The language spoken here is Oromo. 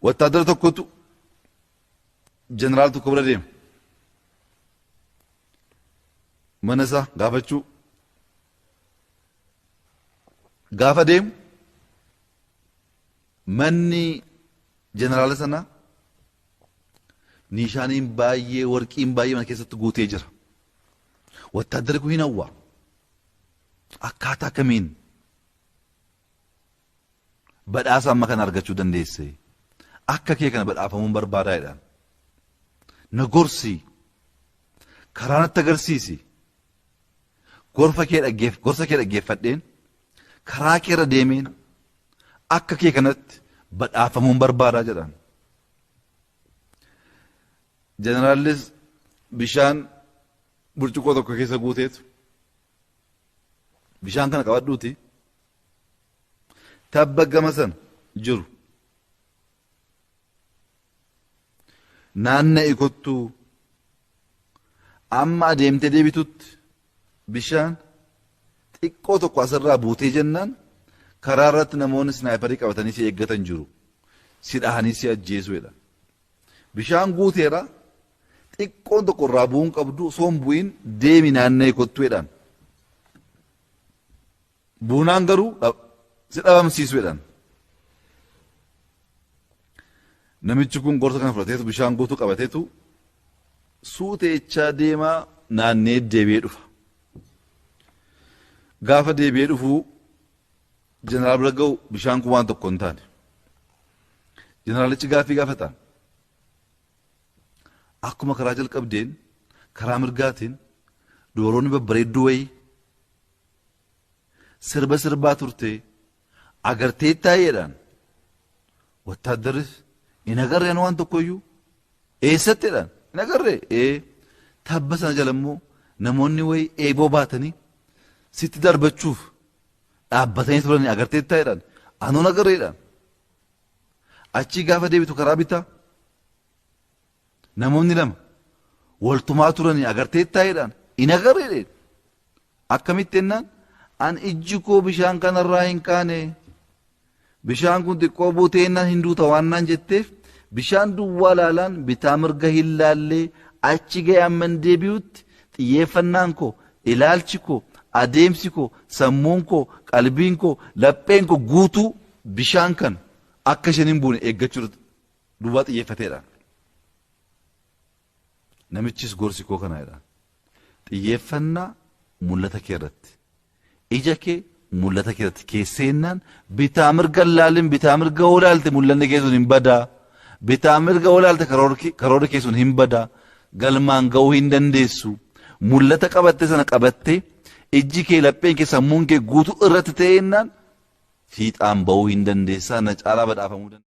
Wattaadara tokkotu jeneraal tokko bira deema. Mana isaa gaafachuu. Gaafa deemu manni jeneraala sanaa niishaaniin baay'ee warqiin baay'ee mana keessatti guutee jira. Wattaaddarri kun hin hawwa. Akkaataa kamiin badhaasa amma kana argachuu dandeesse akka kee kana badhaafamuun barbaadaa jedhaan na gorsii karaa natti agarsiisi gorfa kee dhaggeef gorsa kee dhaggeeffadheen karaa kee irra deemeen akka kee kanatti badhaafamuun barbaadaa jedhaan jeneraalis bishaan burcuqqoo tokko keessa guuteetu bishaan kana qabadhuuti tabba gama sana jiru naanna'i kottuu amma adeemtee deebitutti bishaan xiqqoo tokko asirraa buutee jennaan karaa irratti namoonni snaayiparii qabatanii si eeggatan jiru si dhahanii si ajjeesuudha. Bishaan guuteera xiqqoon tokko irraa bu'uu hin qabdu osoo hin bu'iin deemi naanna'ee kottuu jedhaan. Buunaan garuu dhab- si dhabamsiisu jedhaan. Namichi kun gorsa kana fudhateetu bishaan guutuu qabateetu suuteechaa deemaa naannee deebi'ee dhufa. Gaafa deebi'ee dhufuu Jeneraal Biragawu bishaan kun waan tokko hin taane. Jeneraalichi gaaffii gaafataan akkuma karaa jalqabdeen karaa mirgaatiin dubaroonni babbareedduu wayii sirba sirbaa turtee agartee taa'eedhaan wattaaddarris hin agarreen waan tokkoyyuu eessatteedhaan hin agarree ee tabba sana jala immoo namoonni wayii eeboo baatanii sitti darbachuuf dhaabbatanii turanii agarteetta jedhan anuun agarre jedhan achii gaafa deebitu karaa bitaa namoonni lama waltumaa turanii agarteetta jedhan hin agarre jedhe akkamitti jennaan an ijji koo bishaan kanarraa hin kaane Bishaan kun xiqqoo buuteennaan hin duuta waan naan jetteef bishaan duwwaa laalaan bitaa mirga hin laallee achi ga'e amman deebi'utti xiyyeeffannaan koo, ilaalchi koo, adeemsi koo, sammuun koo, qalbiin koo, lapheen koo guutuu bishaan kana akka isheen hin buune eeggachuu irratti duwwaa xiyyeeffateedha. Namichis gorsi koo kana jedhaan. Xiyyeeffannaa mul'ata kee irratti. Ija kee mul'ata kee irratti keesseennaan bitaa mirga hin laalin bitaa mirga yoo laalte mul'anni kee sun hin badaa. Bitaa mirga yoo laalte karoorri kee sun hin badaa. Galmaan ga'uu hin dandeessu. Mul'ata qabatte sana qabattee ijji kee lapheen kee sammuun kee guutuu irratti ta'eennaan fiixaan ba'uu hin dandeessaa na caalaa badhaafamuu dandeessaa.